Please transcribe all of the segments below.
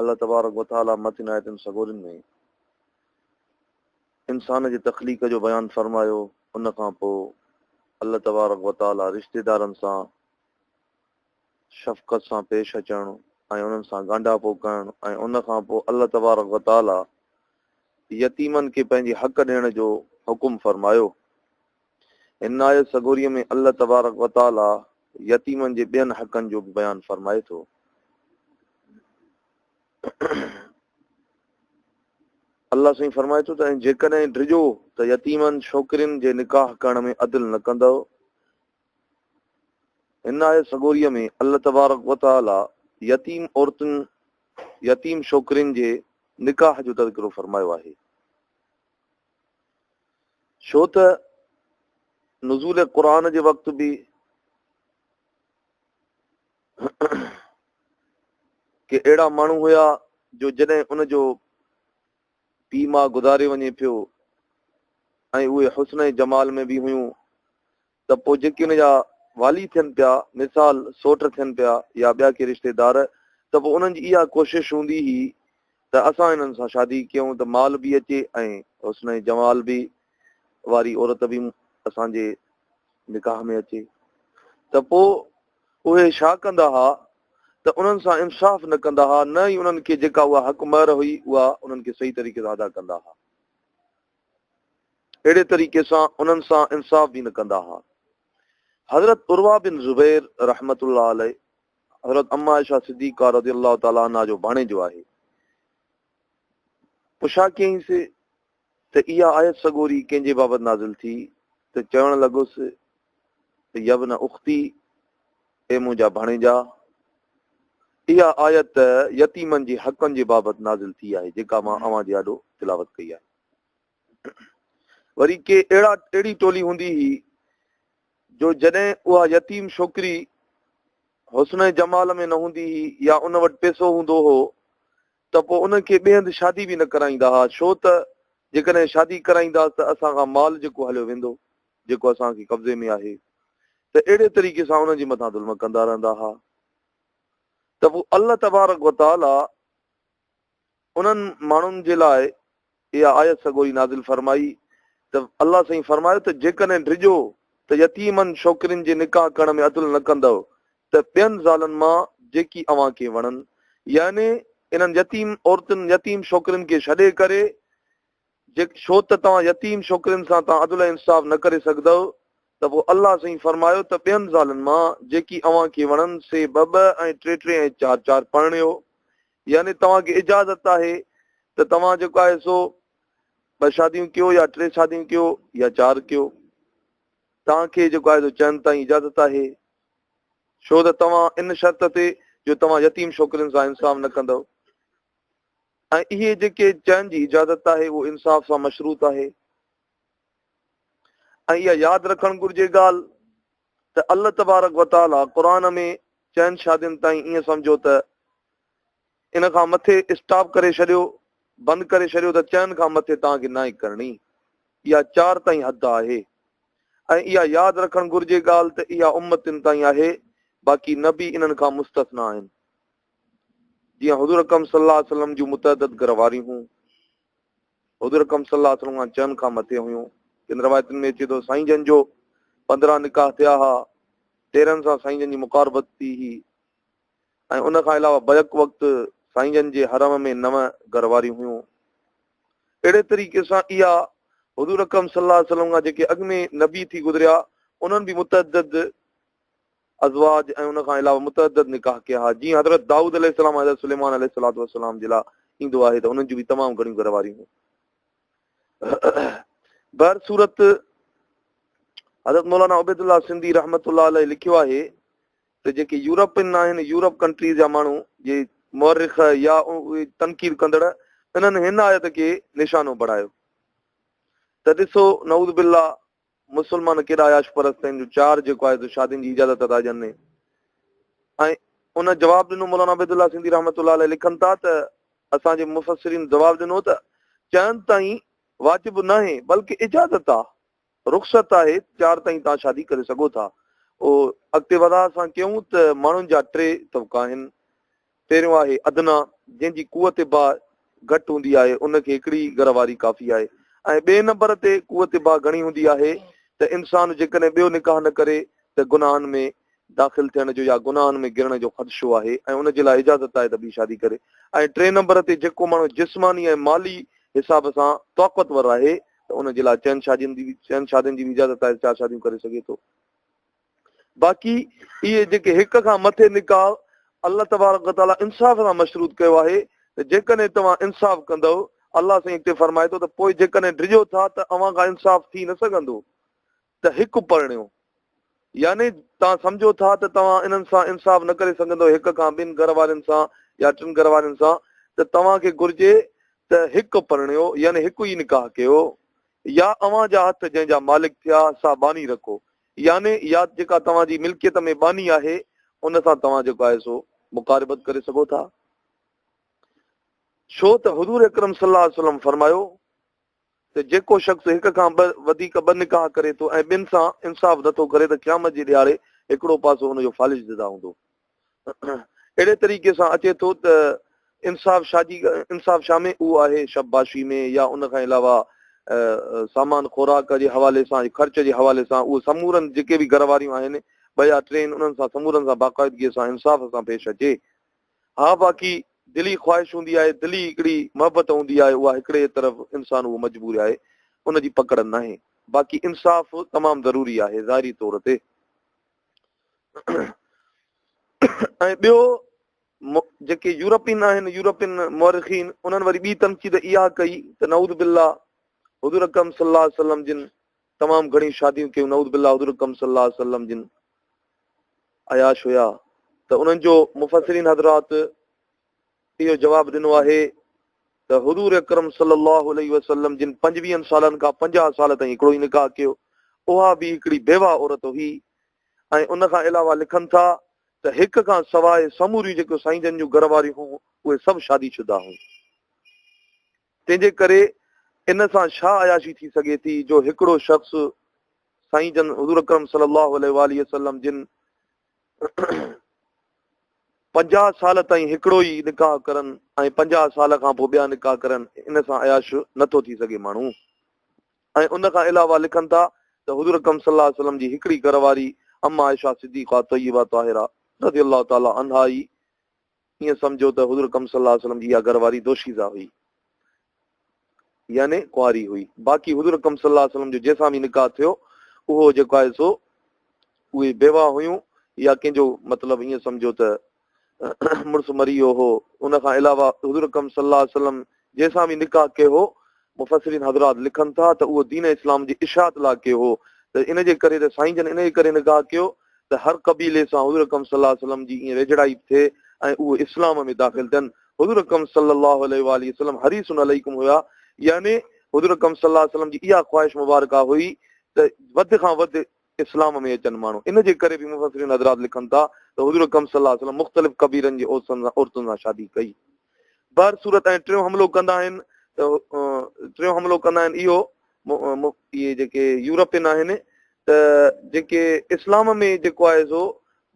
الله تبارڪ و تعاليٰ مٿين آيتن سڳورين ۾ انسان جي تخليق جو بيان فرمايو ان کان پوء الله تبارڪ و تعاليٰ رشتيدارن سان شفقت سان پيش اچڻ ۽ انهن سان ڳانڍاپو ڪرڻ ۽ ان کان پوء الله تبارڪ وتعاليٰ يتيمن کي پنهنجي حق ڏيڻ جو حڪم فرمايو هن آيت سڳوريء ۾ الله تبارڪ و تعاليٰ يتيمن جي ٻين حقن جو به بيان فرمائي ٿو. الله سائين فرمائي ٿو ته ۽ جيڪڏهن ڊڄو ته يتيمن ڇوڪرين جي نڪاح ڪرڻ ۾ عدل نه ڪندؤ. هن آيت سڳوريء ۾ الله تبارڪ و تعاليٰ يتيم عورتن، يتيم ڇوڪرين جي نڪاح جو تذڪرو فرمايو آهي. ڇو ته نزول قرآن جي وقت به ڪي اهڙا ماڻهو هيا جو جڏهن ان جو پي ماء گذاري وڃي پيو ۽ اهي حسن جمال ۾ به هيون ته پوء جيڪي ان جا والي ٿين پيا، مثال سوٽ ٿين پيا يا ٻيا ڪي رشتيدار، ته پوء انهن جي اها ڪوشش هوندي هئي ته اسان انهن سان شادي ڪيون ته مال به اچي ۽ حسن ۽ جمال به واري عورت به اسان جي نڪاح ۾ اچي. ته پوء اهي ڇا ڪندا ها ته انهن سان انصاف نه ڪندا ها، نه ئي انهن کي جيڪا اها حق مهر هئي، اها انهن کي صحيح طريقي سان ادا ڪندا ها. اهڙي طريقي سان انهن سان انصاف به نه ڪندا ها. حضرت عروه بن زبير رحمة الله عليه حضرت ام عائشه صديقه رضي الله تعالٰي عنها جو ڀاڻيجو آهي. پڇا ڪيائين سي ته اها آيت سڳوري ڪنهن جي بابت نازل ٿي ته چوڻ لڳس ته يبن اختي، اي منهنجا ڀڻيجا، اها آيت يتيمن جي حقن جي بابت نازل ٿي آهي جيڪا مان اوهان جي آڏو تلاوت ڪئي آهي. وري ڪي اهڙا اهڙي ٽولي هوندي هئي جو جڏهن اها يتيم ڇوڪري حسن ۽ جمال ۾ نه هوندي هئي يا ان وٽ پيسو هوندو هو ته پوء ان کي ٻئي هنڌ شادي به نه ڪرائيندا هئا ڇو ته جيڪڏهن شادي ڪرائينداس ته اسان کان مال جيڪو هليو ويندو. جيڪو اسان کي قبضي ۾ آهي ته اهڙي طريقي سان انهن جي مٿان ظلم ڪندا رهندا ها ته پوء الله تبارڪ و تعالي انهن ماڻهن جي لاء اها آيت سگهو ئي نازل فرمائي ته الله سائين فرمايو ته جيڪڏهن ڊڄو ته يتيمن ڇوڪرين جي نڪاح ڪرڻ ۾ عدل نه ڪندؤ ته ٻين زالن مان جيڪي اوهان کي وڻن يعني انهن يتيم عورتن يتيم ڇوڪرين کي ڇڏي ڪري جي ڇو ته توهان يتيم ڇوڪرين سان تان عدل ۽ انصاف نه ڪري سگهدؤ ته پوء الله سائين فرمايو ته ٻين زالن مان جيڪي اوهان کي وڻن سي ٻه ٻه ۽ ٽي ٽي ۽ چار چار پرڻيو يعني توهان کي اجازت آهي ته توهان جيڪو آهي سو ٻه شاديون ڪيو يا ٽي شاديون ڪيو يا چار ڪيو توهان کي جيڪو آهي سو چئن تائين اجازت آهي ڇو ته توهان ان شرط تي جو توهان يتيم ڇوڪرين سان انصاف نه ڪندؤ ۽ اهي جيڪي چئن جي اجازت آهي اهو انصاف سان مشروط آهي ۽ اها ياد رکڻ گهرجي ڳالهه ته الله تبارڪ وتعاليٰ قرآن ۾ چئن شادين تائين ائين سمجهو ته ان کان مٿي اسٽاپ ڪري ڇڏيو بند ڪري ڇڏيو ته چئن کان مٿي توهان کي نائي ڪرڻي اها چار تائين حد آهي ۽ اها ياد رکڻ گهرجي ڳالهه ته اها امتن تائين آهي باقي نبي انهن کان مستثنا آهن جيئن حضور اڪرم صلي الله عليه وسلم جون متعدد گهر واريون هيون حضور اڪرم صلي الله عليه وسلم کان چئن کان مٿي هيون ڪن روایتن ۾ اچي ٿو سائين جن جو پندرهن نڪاح ٿيا ها تيرن سان سائين جن جي مقاربت ٿي هي ۽ ان کان علاوه بيڪ وقت سائين جن جي حرم ۾ نو گهر واريون هيون اهڙي طريقي سان اها حضور اڪرم صلی الله علیه وسلم کان جيڪي اڳ ۾ نبي ٿي گذريا انهن به متعدد ازواج ۽ ان کان علاوه متعدد نڪاح ڪيا ها، جيئن حضرت دائود عليه السلام ۽ حضرت سليمان عليه الصلوة والسلام جي لاء ايندو آهي ته انهن جون به تمام گهڻيون گهر واريون هيون. بهر صورت حضرت مولانا عبيد الله سنڌي رحمت الله عليه لکيو آهي ته جيڪي يورپين آهن يورپ ڪنٽريز جا ماڻهو جي مورخ يا تنقيد ڪندڙ انهن هن آيت کي نشانو بڻايو ته ڏسو نعوذ بالله مسلمان ڪيڏا عياش پرست آهن جو چار جيڪو آهي سو شادين جي اجازت ادا ڏين ني ۽ ان جواب ڏنو مولانا عبيد الله سنڌي رحمت الله عليه لکن ٿا ته اسان جي مفسرين جواب ڏنو ته چئن تائين واجب ناهي بلڪه اجازت آ رخصت آهي چار تائين تان شادي ڪري سگهو ٿا او اڳتي وضاحت سان ڪيون ته ماڻهن جا ٽي طبقا آهن پهريون آهي ادنيٰ، جنهن جي قوت باھ گهٽ هوندي آهي، ان کي هڪڙي ئي گهر واري ڪافي آهي ۽ ٻئي نمبر تي قوت باھ گهڻي هوندي آهي ته انسان جيڪڏهن ٻيو نڪاح نه ڪري ته گناهن ۾ داخل ٿيڻ جو يا گناهن ۾ گرڻ جو خدشو آهي ۽ ان جي لاء اجازت آهي ته ٻي شادي ڪري ۽ ٽئين نمبر تي جيڪو ماڻهو جسماني ۽ مالي حساب سان طاقتور آهي ته ان جي لاء چئن شادين جي چئن شادين جي به اجازت آهي ته چار شاديون ڪري سگهي ٿو. باقي اهي جيڪي هڪ کان مٿي نڪاح الله تبارڪ و تعالٰي انصاف سان مشروط ڪيو آهي ته جيڪڏهن توهان انصاف ڪندو الله سائين هتي فرمائي ٿو ته پوء جيڪڏهن ڊڄو ٿا ته اوهان کان انصاف ٿي نه سگهندو ته هڪ پرڻيو يعني توهان سمجھو ٿا ته توهان انهن سان انصاف نه ڪري سگهندو هڪ کان ٻن گھر وارن سان يا ٽن گھر وارن سان ته توهان کي گھرجي ته هڪ پرڻيو يعني هڪ ئي نڪاح ڪيو يا اوهان جا هٿ جنهن جا مالڪ ٿيا سا باني رکو يعني يا جيڪا توهان جي ملڪيت ۾ ٻانهي آهي ان سان توهان جيڪو آهي سو مقاربت ڪري سگهو ٿا ڇو ته حضور اڪرم صلي الله عليه وسلم فرمايو ته جيڪو شخص هڪ کان ٻه وڌيڪ ٻه نڪاح ڪري ٿو ۽ ٻن سان انصاف نٿو ڪري ته قيامت جي ڏياڙي هڪڙو پاسو ان جو فالج جدا هوندو اهڙي طريقي سان اچي ٿو ته انصاف شاهه جي انصاف شاهه ۾ اهو آهي شباشي ۾ يا ان کان علاوه سامان خوراڪ جي حوالي سان خرچ جي حوالي سان اهو سمورن جيڪي به گهر واريون آهن ٻه يا ٽي انهن سان سمورن سان باقاعدگي سان انصاف سان پيش اچي ها باقي دلي خواهش هوندي آهي دلي هڪڙي محبت هوندي آهي اها هڪڙي طرف انسان اهو مجبور آهي ان جي پڪڙ ناهي باقي انصاف تمام ضروري آهي ظاهري طور تي ۽ ٻيو جيڪي يورپين آهن يورپين مورخين انهن وري ٻي تنقيد اها ڪئي ته نعود بالله حضور اڪرم صلی الله علیه وسلم جن تمام گھڻي شاديون ڪيون نعود بالله حضور اڪرم صلی الله علیه وسلم جن عياش هيا ته انهن جو مفسرين حضرات اهو جواب ڏنو آهي ته حضور اڪرم صلي الله عليه وسلم جن پنجويهن سالن کان پنجاهه سال تائين هڪڙو ئي نڪاح ڪيو، اها به هڪڙي بيواهه عورت هئي ۽ ان کان علاوه لکن ٿا ته هڪ کان سواء سموريون جيڪو سائين جن جون گهر واريون هيون اهي سڀ شادي شده هيون. تنهن جي ڪري ان سان ڇا عياشي ٿي سگهي ٿي جو هڪڙو شخص سائين جن حضور اڪرم صلي الله عليه واٰله وسلم جن پنجاهه سال تائين هڪڙو ئي نڪاح ڪرن ۽ پنجاهه سال کان پوء ٻيا نڪاح ڪرن ان سان عياش نٿو ٿي سگهي ماڻهو ۽ ان کان علاوه لکن ٿا ته حضور اڪرم صلي الله عليه وسلم جي هڪڙي گهر واري اما عائشه صديقه طيبه طاهره رضي الله تعالي عنها ئي ائين سمجهو ته حضور اڪرم صلي الله عليه وسلم جي اها گهر واري دوشيزه هئي يعني ڪنواري هئي باقي حضور اڪرم صلي الله عليه وسلم جو جنهن سان به نڪاح ٿيو اهو جيڪو آهي سو اهي بيوا هيون يا ڪنهن جو مطلب ائين سمجهو ته مڙس مري ويو هو ان کان علاوه حضور اڪرم صلي الله عليه وسلم جنهن سان به نڪاح ڪيو هو، مفسرين حضرات لکن ٿا ته اهو دين اسلام جي اشاعت لاء ڪيو هو ته ان جي ڪري ته سائين جن ان جي ڪري نڪاح ڪيو ته هر قبيلي سان حضور اڪرم صلي الله عليه وسلم جي ائين ويجهڙائي به ٿئي ۽ اهو اسلام ۾ داخل ٿين حضور اڪرم صلي الله عليه واله وسلم حريص عليكم هيا يعني حضور اڪرم صلي الله عليه وسلم جي اها خواهش مبارڪه هئي ته وڌ کان وڌ اسلام ۾ اچن ماڻهو ان جي ڪري به مفسرين حضرات لکن ٿا ته حضور اڪرم صلي الله عليه وسلم مختلف قبيلن جي عورتن سان عورتن سان شادي ڪئي بهر صورت ۽ ٽيون حملو ڪندا آهن ته ٽيون حملو ڪندا آهن اهو اهي جيڪي يورپين آهن ته جيڪي اسلام ۾ جيڪو آهي سو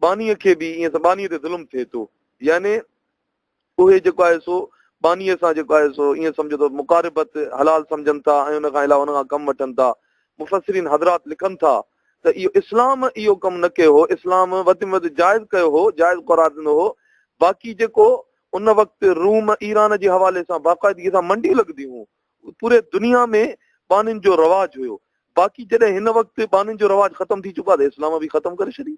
باني کي به ائين ته باني تي ظلم ٿئي ٿو يعني اهي جيڪو آهي سو بانيء سان جيڪو آهي سو ائين سمجهو ته مقاربت حلال سمجهن ٿا ۽ ان کان علاوه ان کان ڪم وٺن ٿا. مفسرين حضرات لکن ٿا ته اهو اسلام اهو ڪم نه ڪيو هو، اسلام وڌ ۾ وڌ جائز ڪيو هو، جائز قرار ڏنو هو، باقي جيڪو ان وقت روم ايران جي حوالي سان باقاعدگي سان منڊيون لڳنديون هيون، پوري دنيا ۾ بانين جو رواج هيو، باقي جڏهن هن وقت بانين جو رواج ختم ٿي چڪو آهي ته اسلام به ختم ڪري ڇڏي.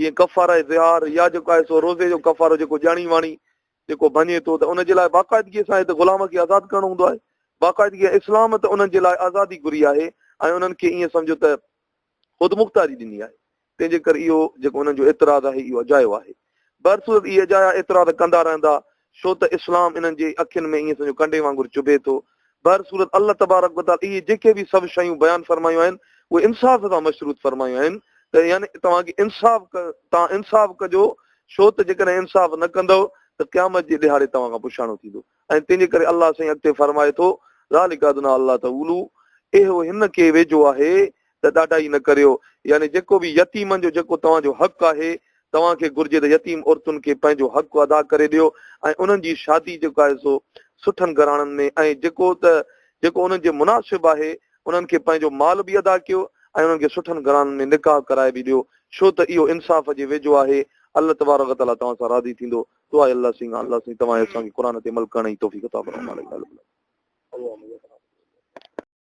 جيئن ڪفاره ظهار يا جيڪو آهي سو روزي جو ڪفارو جيڪو ڄاڻي واڻي جيڪو ڀڃي ٿو ته ان جي لاء باقاعدگي سان هت غلام کي آزاد ڪرڻو هوندو آهي باقاعدگي سان اسلام ته انهن جي لاء آزادي گهري آهي ۽ انهن کي ائين سمجهو ته خود مختاري ڏني آهي تنهن جي ڪري اهو جيڪو انهن جو اعتراض آهي اهو اجايو آهي برصورت اهي اجايا اعتراض ڪندا رهندا ڇو ته اسلام انهن جي اکين ۾ ائين سمجهو ڪنڊي وانگر چڀي ٿو. بهر صورت الله تبارڪ و تعالي اهي جيڪي به سڀ شيون بيان فرمايون آهن اهي انصاف سان مشروط فرمايون آهن ته يعني توهان کي انصاف توهان انصاف ڪجو ڇو ته جيڪڏهن انصاف نه ڪندؤ ته قيامت جي ڏهاڙي توهان کان پڇاڻو ٿيندو ۽ تنهنجي ڪري الله سائين اڳتي فرمائي ٿو ذالڪ ادنى الله تعولو اهو هن کي ويجهو آهي ته ڏاڍائي نه ڪريو، يعني جيڪو به يتيمن جو جيڪو توهان جو حق آهي، توهان کي گهرجي ته يتيم عورتن کي پنهنجو حق ادا ڪري ڏيو ۽ انهن جي شادي جيڪو آهي سو سٺن گهراڻن ۾ ۽ جيڪو ته جيڪو انهن جي مناسب آهي انهن کي پنهنجو مال به ادا ڪيو ۽ انهن کي سٺن گهراڻن ۾ نڪاح ڪرائي به ڏيو ڇو ته اهو انصاف جي ويجهو آهي الله تبارڪ و تعاليٰ توهان سان راضي ٿيندو دعا اي الله سينگان الله سائين توهان اسان کي قرآن تي عمل ڪرڻ جي توفيق عطا فرماء آمين يا رب العالمين.